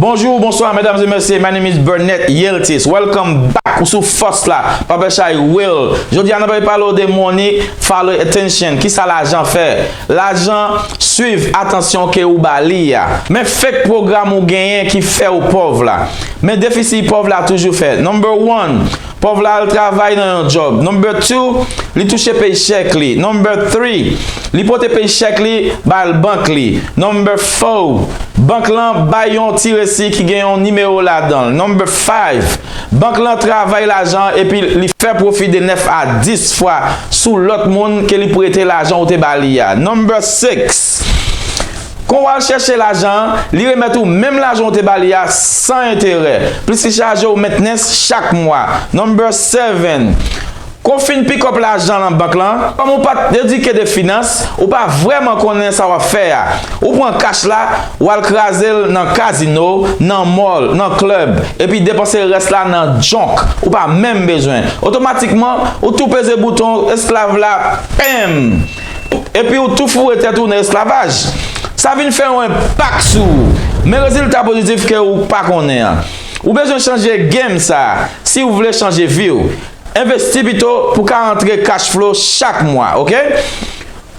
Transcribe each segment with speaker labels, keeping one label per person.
Speaker 1: Bonjour, bonsoir, mesdames et messieurs, my name is Burnett Yeltis, welcome back ou sou Fos la, Papa Chay Will. Jodi an apay palo de money, follow attention, ki sa lajan fè? Lajan, swiv atansyon ke ou ba li ya. Men fek program ou genyen ki fè ou pov la. Men defisi pòv la toujou fè. Number one, Pòv la al travay nan yon djòb. Number two, Li touche pay chèk li. Number three, Li pote pay chèk li bal bank li. Number four, Bank lan bay yon ti resi ki gen yon nimewo ladanl. Number five, Bank lan travay lajan an epi li fè pwofi de 9 a 10 fwa sou lòt moun ke li prete lajan ou te ba li a. Number six, Kon w al chèche lajan an, li remèt ou menm lajan ou te ba li a san enterè, plis li chaje ou mentnens chak mwa. Number 7, Kon fin pikòp lajan nan bank lan, kòm ou pat edike de finans, ou pa vrèman konnen sa w ap fè a. Ou pran kach la, w al kraze l nan kazino, nan mòl, nan klèb, epi depanse rès la nan junk ou pa menm bezwen. Otomatikman, ou tou peze bouton esklav la, pèm! epi ou tou foure tèt ou nan esklavaj, sa vin fè yon enpak sou ou. Men rezilta pozitif ke ou pa konnen an. Ou bezwen chanje game sa si ou vle chanje vi ou. Envesti pito pou ka antre cash flow chak mwa ok.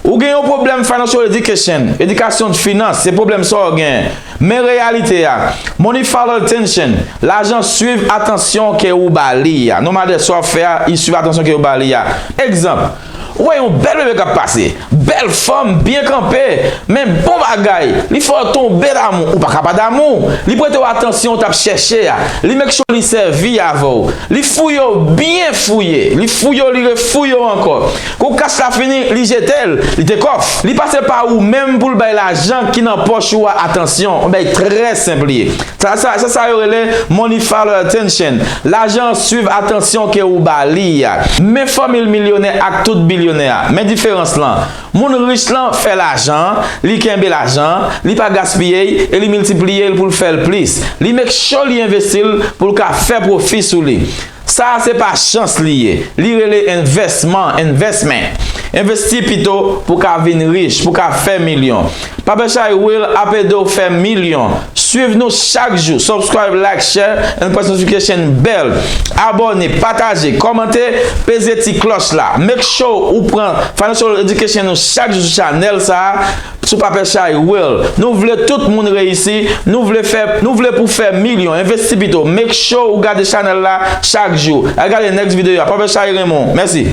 Speaker 1: Ou gen yon pwoblèm financial education, edikasyon de finans se pwoblèm sa ou gen. Men reyalite a, money follow attention, lajan swiv atansyon ke ou ba li a. No matter sa ou ap fè a, li swiv atansyon ke ou ba li a. Egzanp. Ou wè yon bèl bebe kap pase. Bèl fanm byen kanpe men bon bagay li fè w tonbe damou ou paka pa damou li prete w atansyon ou tap chèche a li make sure li sèvi avè w li fouye w byen fouye li fouye w li re fouye w ankò kou kas la fini li jete l li te kòf li pase pa ou menm pou l bay lajan ki nan pòch ou a atansyon bèy trè senp li ye. Sa sa, se sa yo rele money follow attention, lajan an swiv atansyon ke ou ba li a. Men fòmil milyonè ak tout bilyonè a, men diferans lan, moun rich lan fè lajan, li kenbe lajan, li pa gaspiye y e li miltipliye l pou l fè l plis. Li make sure li envesti l pou l ka fè pwofi sou li. Sa a se pa chans li ye. Li rele envèsman, investment. Envesti pito pou ka vin rich, pou ka fè milyon. Pape Chay Will ap ede w fè milyon. Swiv nou chak jou, subscribe, like, share and press notification bell. Abòne, pataje, kòmante, peze ti klòch la. Make sure ou pran Financial Education ou chak jou sou chanèl sa a. Sou papè chay will. Nou vle tout moun reyisi, nou vle fè, nou vle pou fè milyon, envesti pito, make sure ou gade chanèl la chak jou. Al gade next video a, papè chay Raymond. Mèsi.